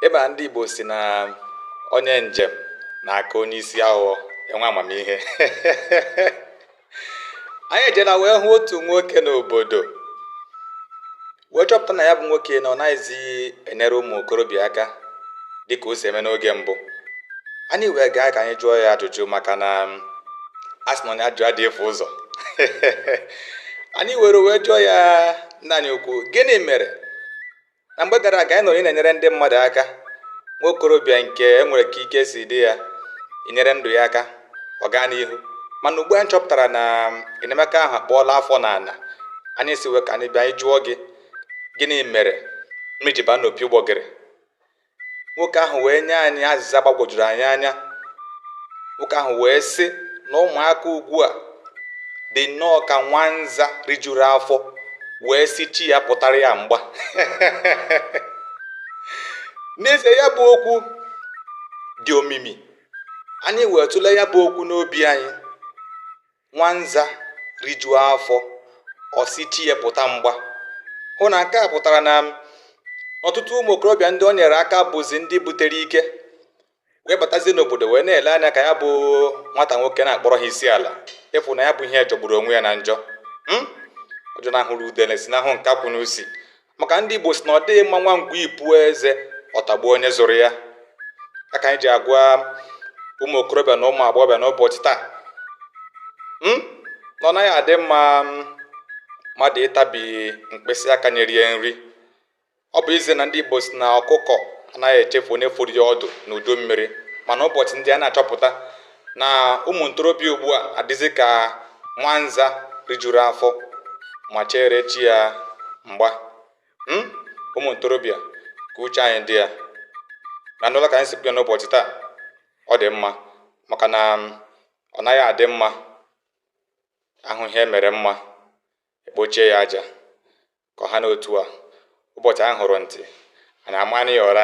ịba ndị Igbo sị na onye njem na-aka onye isi awọ enwe amamihe anyị ejela wee hụ otu nwoke n'obodo wee chọpụta na ya bụ nwoke na ọ naghịzi enyere ụmụ okorobịa aka dịka o si eme n'oge mbụ anyị wee gaa ka anyị jụọ ya ajụjụ maka na um, a sị na onye ajụjụ adịghị efu ụzọ anyị were wee jụọ ya Nna anyị ukwu, gịnị mere na mgbe gara aga anyị nụrụ ị na-enyere ndị mmadụ aka nwa okorobịa nke e nwere ka ike si dị ya i nyere ndụ ya aka ọ gaa n'ihu mana ugbu a anyị chọpụtara na enyemaka ahụ akpọọla afọ n'ala anyị sị wee ka anyị bịa anyị jụọ gị gịnị mere mmiri ji baa n'opi ụgbọgịrị nwoke ahụ wee nye anyị azịza gbagwojuru anyị anya nwoke ahụ wee sị na ụmụaka ugbu a dị nnọọ ka nwanza rijuru afọ wee sị chi ya pụtara ya mgba n'ezie ya bụ okwu dị omimi anyị wee tụlee ya bụ okwu n'obi anyị nwanza rijuo afọ ọ sị chi ya pụta mgba hụ na nke a pụtara na ọtụtụ ụmụ okorobịa ndị o nyere aka bụzi ndị butere ike wee batazie n'obodo wee na-ele anya ka ya bụ nwata nwoke na-akpọrọ ha isi ala ị fụ na ya bụ ihe jọgburu onwe ya na njọ hmm? ọ jọnahụrụ udele sinahụ nkakwụ n'usi maka ndị Igbo sị na ọ dịghị mma nwa ngwii puo eze ọ tagbuo onye zụrụ ya ya ka anyị ji agwa ụmụ okorobịa na ụmụ agbọghọbịa n'ụbọchị taa hmm? na ọ naghị adị mma hmm, mmadụ ịtabi mkpịsị aka nyere ya nri ọ bụ ezie na ndị Igbo sị na ọkụkọ anaghị echefu onye foro ya ọdụ n'udu mmiri mana ụbọchị ndị a na-achọpụta na ụmụ ntorobịa ugbu a adịzi ka nwanza rijuru afọ ma chere chi ya mgba hmm? ụmụ ntorobịa ka uche anyị dị ya na n'ụlọ ka anyị si bịa n'ụbọchị taa ọ dị mma maka na um, ọ naghị adị mma a hụ ihe mere mma e kpochie ya aja ka ọ ha n'otu a ụbọchị anyị hụrụ ntị anyị amana ya ụra